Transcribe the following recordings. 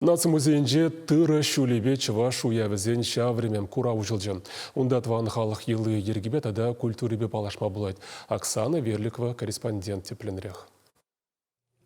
Наци музейӗнче тырӑ ҫулӗпе чӑваш уявӗсен ҫав времен курав уҫӑлчӗ. Унта тӑван халӑх йӑли-йӗркипе тата культурипе паллашма пулать. Оксана Верликова корреспондент тӗплӗнрех.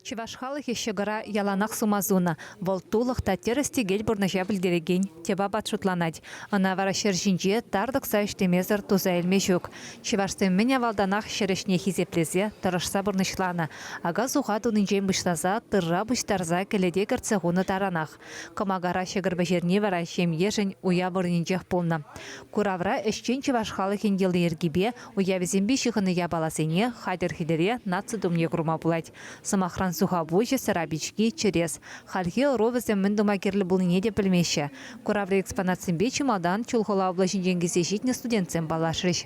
Чӑваш халӑхӗ ҫӑкӑра яланах сума сунӑ. Вӑл тулӑх та тӗрӗс-тӗкел пурнӑҫа пӗлтерекен тӗп апат шутланать. Ӑна вара ҫӗр ҫинче тар тӑкса ӗҫлемесӗр туса илме ҫук. Чӑвашсем мӗн авалтанах ҫӗр ӗҫне хисеплесе, тӑрӑшса пурнӑҫланӑ, ака-суха тунинчен пуҫласа тырра пуҫтарса кӗлете кӗртсе хунӑ таранах. Кӑмакара ҫӑкӑр пӗҫерни вара ҫемьешӗн уяв вырӑнӗнчех пулнӑ. Куравра ӗҫчен чӑваш халӑхӗн йӑли-йӗркипе, уявӗсемпе ҫыхӑннӑ япаласене хатӗр-хӗтӗре наци тумне курма пулать. Сӑмахран, сухапуҫӗ, сӑра пички, чӗрес. Хальхи ӑру вӗсем мӗн тума кирлӗ пулнине те пӗлмеҫҫӗ. Кураври экспонатсемпе чӑ малтан Чулхула облаҫӗнчен килсе ҫитнӗ студентсем паллашрӗҫ.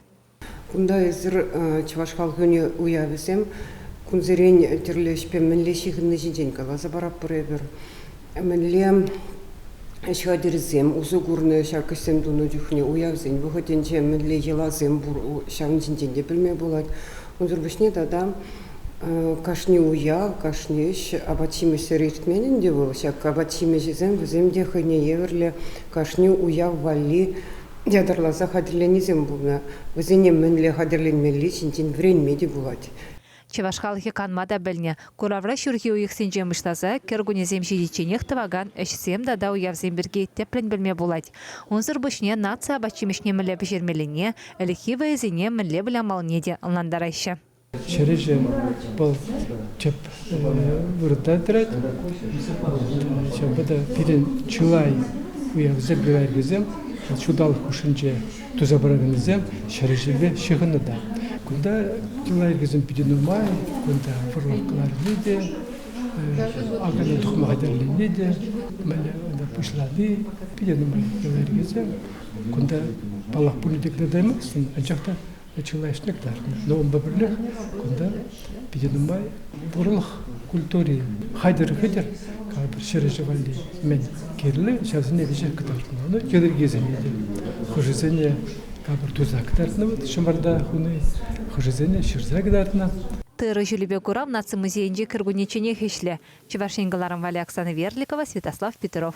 Кунта эсир чӑваш халӑхӗн уявӗсем. Кунсерен тӗрлӗ ӗҫпе мӗнле ҫыхӑнни ҫинчен каласа паратпӑр эпир. Мӗнле ҫатирсем усӑ курнӑ ҫак ӗҫсем тунӑ чухне, уявсен вӑхӑтӗнче мӗнле йӑласем пур, ҫавӑн ҫинчен те пӗлме пулать. Унсӑр пуҫне тата кашни уяв, кашни ӗҫ апат-ҫимӗҫсӗр иртмен ӗнтӗ вӑл. Ҫак апат-ҫимӗҫӗсем вӗсем те хӑйне евӗрлӗ кашни уяв валли ятарласа хатӗрленисем пулнӑ. Вӗсене мӗнле хатӗрленмелли ҫинчен вӗренме те пулать. Чӑваш халӑхӗ канма та пӗлнӗ, куравра ҫурхи уйӑхсенче муҫласа кӗркуннесем ҫитичченех тӑвакан ӗҫсем тата уявсем пирки тӗплӗн пӗлме пулать. Унсӑр пуҫне наци апат-ҫимӗҫне мӗнле пӗҫермеллине, ӗлӗкхи вӑйӑсене мӗнле вылямаллине те ӑнлантараҫҫӗ. Чӗреҫем вӑл тӗп вырӑнта тӑрать. Ҫавӑнпа та пирӗн чылай уявсем, пирӗн ҫулталӑк хушшинче туса пыраканнисем ҫӗр ҫилле ҫыхӑннӑ та. Кунта лайӑххисем питӗ нумай. Кунта вӑрлӑх кӑларни те, акана тухма хатӗрлени те, мӗнле унта пуҫлани питӗ нумай лайӑххисем. Кунта паллах пурне те кӑтартаймастӑн, анчах та чылайӑшне кӑтартнӑ. Но унпа пӗрлех кунта питӗ нумай. Пурлӑх культури хатӗр-хатӗр кадр ҫӗрӗҫӗ валли мӗн кирлӗ, ҫавсене веҫех кӑтартнӑ. Ну, йӑлӑрккисене те, хӑшӗсене кадр туса кӑтартнӑ вӑл Шӑмӑрта хуни, хӑшӗсене ҫырса кӑтартнӑ. Тырӑ ҫулӗпе курав наци музейӗнче кӗркуннечченех ӗҫлӗ. Чӑваш Ен кӑларӑм валли Оксана Верликова, Святослав Петров.